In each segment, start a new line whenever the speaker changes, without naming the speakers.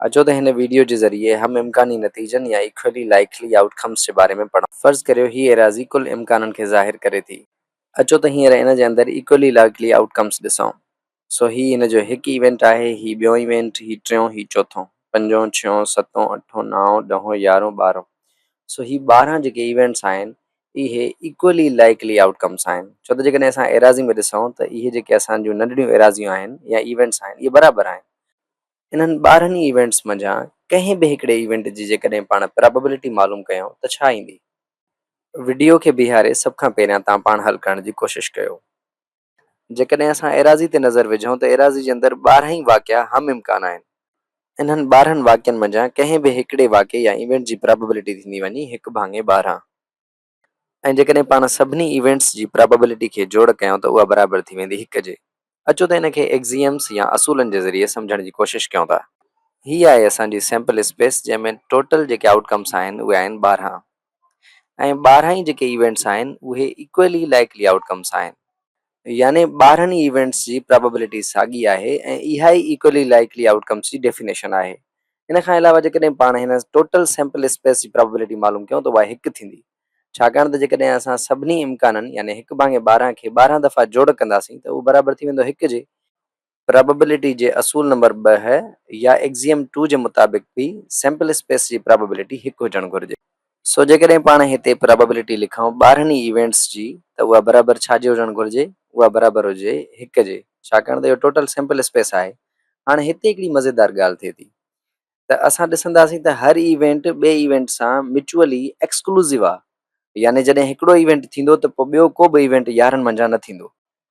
اچو ته هن ويڊيو جي ذريعي هم امڪاني نتيجن يا Equally Likely Outcomes جي باري ۾ پڙهون. فرض ڪريو هي ايراضي ڪل امڪانن کي ظاهر ڪري ٿي. اچو ته هينئر ان جي اندر Equally Likely Outcomes ڏسون. سو هي ان جو هڪ ايونٽ آهي، هي ٻيون ايونٽ، هي ٽيون، هي چوٿون، پنجون، ڇهون، ستون، اٺون، نائون، ڏهون، يارهون، ٻارهون. سو هي ٻارهن جيڪي ايونٽس آهن اهي Equally Likely Outcomes آهن. ڇو ته جيڪڏهن اسان ايراضي ۾ ڏسون ته اهي جيڪي اسان جون ننڍڙيون ايراضيون آهن يا ايونٽس آهن اهي برابر آهن. انهن ٻارهن ئي ايونٽس منجهان ڪنهن به هڪڙي ايونٽ جي جيڪڏهن پاڻ پراببلٽي معلوم ڪيائون ته ڇا ايندي؟ وڊيو کي بيهاري سڀ کان پهريان توهان پاڻ حل ڪرڻ جي ڪوشش ڪيو. جيڪڏهن اسان ايراضي تي نظر وجهون ته ايراضي جي اندر ٻارهن ئي واقعا هم امڪان آهن. انهن ٻارهن واقعن منجهان ڪنهن به هڪڙي واقعي يا ايونٽ جي پراببلٽي ٿيندي وڃي هڪ ڀاڱي ٻارهن. ۽ جيڪڏهن پاڻ سڀني ايونٽس جي پراببلٽي کي جوڙ ڪيون ته اها برابر ٿي ويندي هڪ جي. اچو ته ان کي ايڪزيئمس يا اصولن جي ذريعي سمجهڻ جي ڪوشش ڪيون ٿا. هي آهي اسان جي سيمپل اسپيس جنهن ۾ ٽوٽل جيڪي آئوٽ ڪمس آهن اهي آهن ٻارهن ۽ ٻارهن ئي جيڪي ايونٽس آهن اهي ايڪوئلي لائيڪلي آئوٽ ڪمس آهن. يعني ٻارهن ئي ايونٽس جي پرابيبلٽي ساڳي آهي ۽ اها ئي ايڪولي لائيڪلي آئوٽ ڪمس جي ڊيفينيشن آهي. ان کان علاوه جيڪڏهن پاڻ هن ٽوٽل سيمپل اسپيس جي پرابيبلٽي معلوم ڪيون ته اها هڪ ٿيندي. ڇاڪاڻ ته جيڪڏهن اسان سڀني امڪانن يعني هڪ ڀاڱي ٻارهن کي ٻارهن دفعا جوڙ ڪنداسين ته اهو برابر ٿي ويندو هڪ جي، پرابيبلٽي جي اصول نمبر ٻه يا ايڪزيم ٽو جي مطابق به سيمپل اسپيس جي پرابيبلٽي هڪ هجڻ گهرجي. سو جيڪڏهن پاڻ هتي پرابيبلٽي لکون ٻارهن ئي ايونٽس جي ته اها برابر ڇا جي هجڻ گهرجي؟ اها برابر هجي هڪ جي ڇاڪاڻ ته اهو ٽوٽل سيمپل اسپيس آهي. هاڻ هتي هڪڙي مزيدار ڳالهه ٿئي ٿي ته اسان ڏسنداسين ته هر ايونٽ ٻئي ايونٽ سان ميچوئلي ايڪسڪلوزو آهي يعني جڏهن هڪڙو ايونٽ ٿيندو ته پوء ٻيو ڪو به ايونٽ يارهن منجهان نه ٿيندو.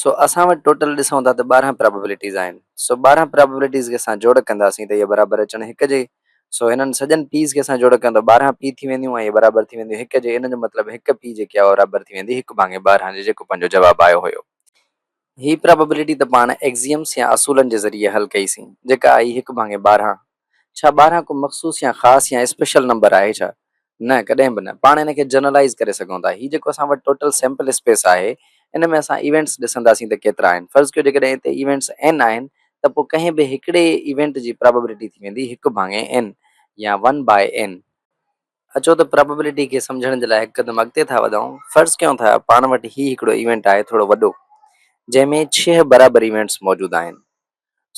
سو اسان وٽ ٽوٽل ڏسون ٿا ته ٻارهن پرابيبلٽيز آهن سو ٻارهن پرابيبلٽيز کي اسان جوڙ ڪنداسين ته اهي برابر اچڻ هڪ جي سو هنن سڄن پيز کي اسان جوڙ ڪيون ته ٻارهن پي ٿي وينديون ۽ اهي برابر ٿي وينديون هڪ جي ان جو مطلب هڪ پي جيڪي آهي اها برابر ٿي ويندي هڪ ڀاڱي ٻارهن جي جيڪو پنهنجو جواب آيو هيو. هي پرابيبلٽي ته پاڻ ايڪزيمس يا اصولن جي ذريعي حل ڪئي سين جيڪا آئي هڪ ڀاڱي ٻارهن ڇا ٻارهن ڪو مخصوص يا خاص يا اسپيشل نمبر آهي ڇا؟ نه ڪڏهن به نه. پاڻ ان کي جنرلائيز ڪري سگهون ٿا. هي جيڪو اسان وٽ ٽوٽل سيمپل اسپيس آهي ان ۾ اسان ايونٽس ڏسنداسين ته ڪيترا آهن. فرض ڪيو جيڪڏهن اتي ايونٽس N آهن ته پوء ڪنهن به هڪڙي ايونٽ جي پرابيبلٽي ٿي ويندي هڪ ڀاڱي N يا ون باء N. اچو ته پرابيبلٽي کي سمجهڻ جي لاء هڪ قدم اڳتي ٿا وڌائون. فرض ڪيون ٿا پاڻ وٽ هي هڪڙو ايونٽ آهي ٿورو وڏو جنهن ۾ ڇهه برابر ايونٽس موجود آهن.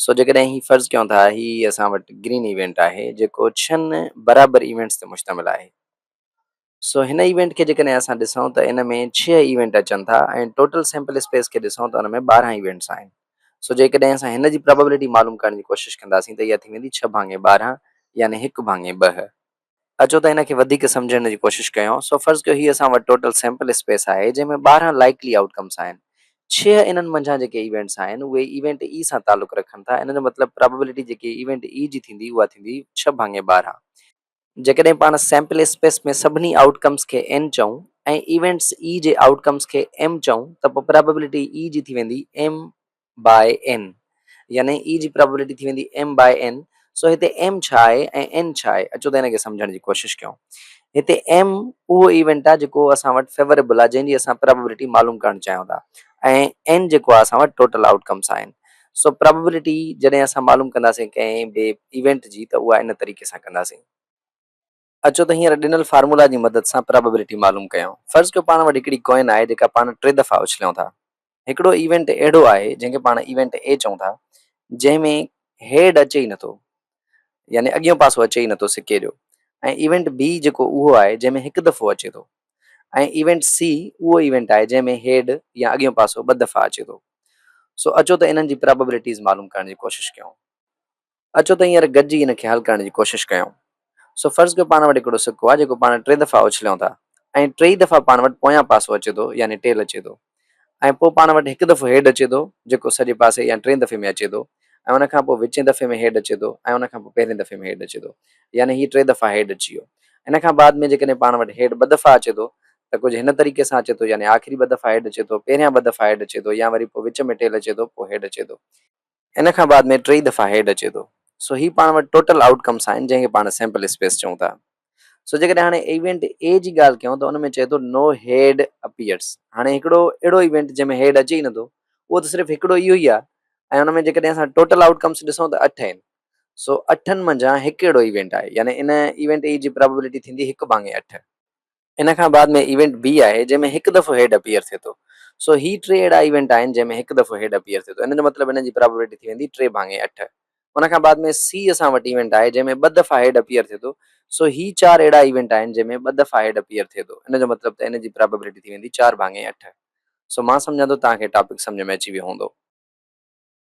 سو جيڪڏهن هي فرض ڪيون ٿا هي اسان وٽ گرين ايونٽ آهي جيڪو ڇهن برابر ايونٽس تي مشتمل آهي سو هن ايونٽ کي جيڪڏهن اسان ڏسون ته ان ۾ ڇهه ايونٽ اچن ٿا ۽ ٽوٽل سيمپل اسپيس کي ڏسون ته ان ۾ ٻارهن ايونٽس آهن سو جيڪڏهن اسان هن جي پراببلٽي معلوم ڪرڻ جي ڪوشش ڪنداسين ته اها ٿي ويندي ڇهه ڀاڱي ٻارهن يعني هڪ ڀاڱي ٻه اچو ته ان کي وڌيڪ سمجهڻ جي ڪوشش ڪيون. سو فرض ڪيو هي اسان وٽ ٽوٽل سيمپل اسپيس آهي جنهن ۾ ٻارهن لائيڪلي آئوٽ ڪمس آهن. ڇهه انهن منجهان جيڪي ايونٽس آهن اهي ايونٽ اي سان تعلق رکن ٿا ان جو مطلب پرابيبلٽي جيڪي ايونٽ اي جي ٿيندي اها ٿيندي ڇهه ڀاڱي ٻارهن. جيڪڏهن پاڻ سيمپل اسپيس ۾ سڀني آئوٽ ڪمس کي اين چئون ۽ ايونٽس اي جي آئوٽ ڪمس کي ايم چئون ته پوء پرابيبلٽي اي جي ٿي ويندي ايم بائي اين يعني اي جي پرابيبلٽي ٿي ويندي ايم بائي اين سو هتي ايم ڇا آهي ۽ اين ڇا آهي اچو ته ان کي سمجهڻ جي ڪوشش ڪيون هتي ايم اهو ايونٽ آهي جيڪو اسان وٽ فيوريبل آهي جنهن جي اسان پرابيبلٽي معلوم ڪرڻ چاهيون ٿا ۽ اين جيڪو آهي اسان وٽ ٽوٽل آئوٽ ڪمس آهن سو پرابيبلٽي جڏهن اسان معلوم ڪنداسين ڪنهن به ايونٽ جي ته اها ان طريقي سان ڪنداسين اچو ته هينئر ڏنل فارمولا جي مدد سان پرابيبلٽي معلوم ڪيون. فرض ڪيو پاڻ وٽ هڪڙي ڪوئن آهي جيڪا پاڻ ٽي دفعا اڇليون ٿا. هڪڙو ايونٽ اهڙو آهي جنهن کي پاڻ ايونٽ اي چئون ٿا جنهن ۾ هيڊ اچي ئي نٿو يعني اڳيون پاسو اچي ئي نٿو سڪي جو ۽ ايونٽ بي جيڪو اهو آهي جنهن ۾ هڪ دفعو اچي ٿو ۽ ايونٽ سي اهو ايونٽ آهي جنهن ۾ هيڊ يا اڳيون پاسو ٻه دفعا اچي ٿو. سو اچو ته انهن جي پرابيبلٽيز معلوم ڪرڻ جي ڪوشش ڪيون. اچو ته هينئر گڏجي ان کي حل ڪرڻ جي ڪوشش ڪيون. سو فرض ڪيو پاڻ وٽ هڪڙو سڪو آهي جيڪو پاڻ ٽي دفعا اڇليون ٿا ۽ ٽيئي دفعا پاڻ وٽ پويان پاسو اچي ٿو يعني ٽيل اچي ٿو ۽ پوء پاڻ وٽ هڪ دفعو هيڊ اچي ٿو جيڪو سڄي پاسي يا ٽئين دفعي ۾ اچي ٿو ۽ ان کان پوء وچين دفعي ۾ هيڊ اچي ٿو ۽ ان کان پوء پهرين دفعي ۾ هيڊ اچي ٿو يعني هي ٽي دفعا هيڊ اچي ويو ان کان بعد ۾ جيڪڏهن پاڻ وٽ هيڊ ٻه دفعا اچي ٿو ته ڪجهه هن طريقي سان اچي ٿو يعني آخري ٻه دفعا هيڊ اچي ٿو پهريان ٻه دفعا هيڊ اچي ٿو يا وري پوء وچ ۾ ٽيل اچي ٿو پوء هيڊ اچي ٿو ان کان بعد ۾ ٽئي دفعا هيڊ اچي ٿو سو هي پاڻ وٽ ٽوٽل آئوٽ ڪمس آهن جنهن کي پاڻ سيمپل اسپيس چئون ٿا سو جيڪڏهن هاڻي ايونٽ اي جي ڳالهه ڪيون ته ان ۾ چئي ٿو نو هيڊ اپيئرس هاڻي هڪڙو اهڙو ايونٽ جنهن ۾ هيڊ اچي ئي نٿو اهو ته صرف هڪڙو اهو ئي آهي ۽ ان ۾ جيڪڏهن اسان ٽوٽل آئوٽ ڪمس ڏسون ته اٺ آهن سو اٺن منجهان هڪ اهڙو ايونٽ آهي يعني ان ايونٽ اي جي پرابيبلٽي ٿيندي هڪ ڀاڱي اٺ. ان کان بعد ۾ ايونٽ بي آهي جنهن ۾ هڪ دفعو هيڊ اپيئر ٿئي ٿو سو هي ٽي اهڙا ايونٽ آهن جنهن ۾ هڪ دفعو هيڊ اپيئر ٿئي ٿو ان جو مطلب هن جي پرابيبلٽي ٿي ويندي ٽي ڀاڱي اٺ ان کان بعد ۾ سي اسان وٽ ايونٽ آهي جنهن ۾ ٻه دفعا هيڊ اپيئر ٿئي ٿو سو هي چار اهڙا ايونٽ آهن جنهن ۾ ٻه دفعا هيڊ اپيئر ٿئي ٿو ان جو مطلب ته ان جي پرابيبلٽي ٿي ويندي چار ڀاڱي اٺ سو مان سمجهان ٿو توهان کي ٽاپڪ سمجهه ۾ اچي ويو هوندو.